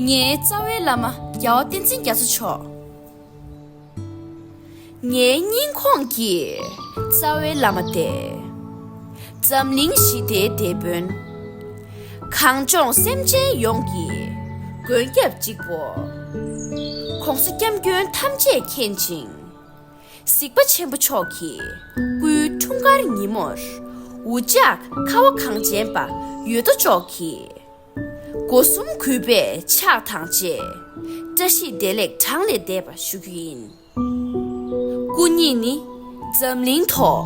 ངའི་རྩ་བའི་བླ་མ་རྒྱལ་བ་བསྟན་འཛིན་རྒྱ་མཚོ་མཆོག། ངའི་སྙིང་ཁོངས་ཀྱི་རྩ་བའི་བླ་མ་སྟེ། འཛམ་གླིང་ཞི་བདེའི་དེད་དཔོན། གངས་ལྗོངས་སེམས་ཅན་ཡོངས་ཀྱི་མགོན་སྐྱབས་གཅིག་པོ། ྋགོང་ས ྋསྐྱབས་མགོན་ཐམས་ཅད་མཁྱེན་ཅིང། གཟིགས་པ་ཆེན་པོ་མཆོག་གི་སྐུའི་འཁྲུངས་སྐར་ཉིན་མོར། འུ་ཅག་ཁ་བ་གངས་ཅན་པ་ཡོད་དོ་ཅོག་གིས། སྒོ་གསུམ་གུས་པས་ཕྱག་དང་བཅས། བཀྲ་ཤིས་བདེ་ལེགས་གྲངས་ལས་འདས་པ་ཞུ་རྒྱུ་ཡིན། སྐུ་ཉིད་ནི་འཛམ་གླིང་ཐོག།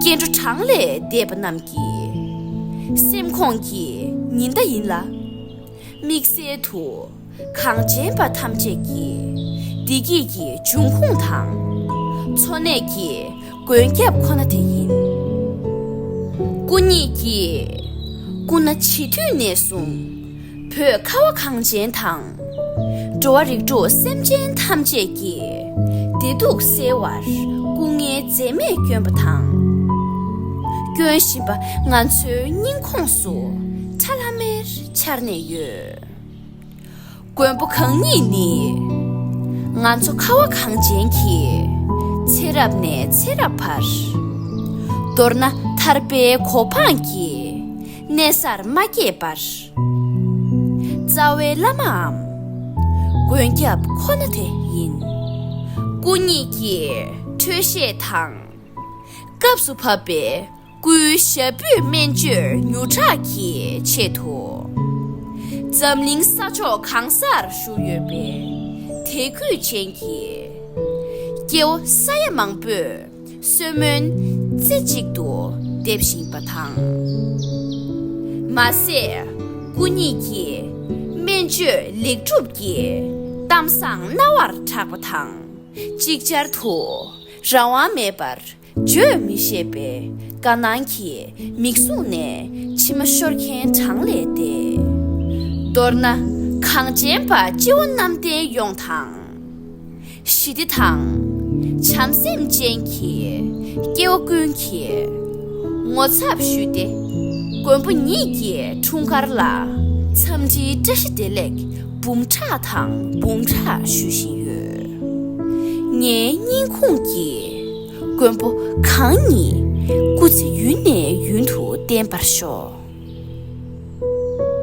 སྐྱེ་འགྲོ་གྲངས་ལས་འདས་པ་རྣམས་ཀྱི། སེམས་ཁོངས་ཀྱི་ཉི་ཟླ་ཡིན་ལ། དམིགས་བསལ་དུ། གངས་ཅན་པ་ཐམས་ཅད་ཀྱི་བདེ་སྐྱིད་ཀྱི་འབྱུང་ཁུངས་དང་འཚོ་གནས་ཀྱི་མགོན་སྐྱབས་ཁོ་ན་དེ་ཡིན། སྐུ་ཉིད་ཀྱིས་སྐུ་ན་བྱིས་དུས་ནས་བཟུང་བོད་ཁ་བ་གངས་ཅན་དང་འགྲོ་བ་རིགས་དྲུག་སེམས་ཅན་ཐམས་ཅད་ཀྱི་བདེ་སྡུག་སེལ་བར་སྐུ་ངལ་འཛེམས་མེད་བསྐྱོན་པ་དང་སྐྱོན་བཞིན་པ་ང་ཚོའི་སྙིང་ཁོངས་སུ་ཁྲ་ལྷ་མེར་འཆར་ནས་ཡོད། མགོན་པོ་གང་ཉིད་ནི། ང་ཚོ་ཁ་བ་གངས་ཅན་གྱི། ཚེ་རབས་ནས་ཚེ་རབས་བར། མདོར་ན་ཐར་པའི་གོ་འཕང་གི། གནས་གསར་མ་སྐྱེས་པར། རྩ་བའི་བླ་མའམ། མགོན་སྐྱབས་ཁོ་ན་དེ་ཡིན། སྐུ་ཉིད་ཀྱིས་འཕྲོས་བཤད་དང། སྐབས་སུ་བབ་པའི། སྐུའི་ཞབས་སྤུས་སྨན་བཅོས་མྱུར་དྲག་གི་ཆེད་དུ། འཛམ་གླིང་ས་ཕྱོགས་གང་སར་བཞུགས་ཡོད་པའི་དད་གུས་ཅན་གྱི་སྐྱེ་བོ་ས་ཡ་མང་པོས་གསོལ་སྨོན་རྩེ་གཅིག་ཏུ་འདེབས་བཞིན་པ་དང། མ་ཟད་སྐུ་ཉིད་ཀྱི་སྨན་བཅོས་ལེགས་གྲུབ་ཀྱི་གཏམ་བཟང་རྣ་བར་གྲགས་པ་དང་ཅིག་ཅར་དུ་རང་དབང་མེད་པར་བརྗོད་མི་ཤེས་པའི་དཀའ་སྣང་གིས་མིག་ཟུང་ནས་མཆི་མ་ཤོར་མཁན་གྲངས་ལས་འདས། མདོར་ན་གངས་ཅན་པ་སྤྱི་བོ་གནམ་བསྟན་ཡོངས་དང། ཞི་བདེ་དང། བྱམས་སེམས་ཅན་གྱི་སྐྱེ་བོ་ཀུན་གྱིས་ངོ་ཚབ་ཞུས་ཏེ། མགོན་པོ་ཉིད་ཀྱི་འཁྲུངས་སྐར་ལ་འཚམས་འདྲིའི་བཀྲ་ཤིས་བདེ་ལེགས་འབུམ་ཕྲག་དང་འབུམ་ཕྲག་ཞུ་བཞིན་ཡོད། ངའི་སྙིང་ཁུངས་ཀྱི། མགོན་པོ་གང་ཉིད་སྐུ་ཚེ་ཡུན་ནས་ཡུན་དུ་བརྟན་པར་ཤོག།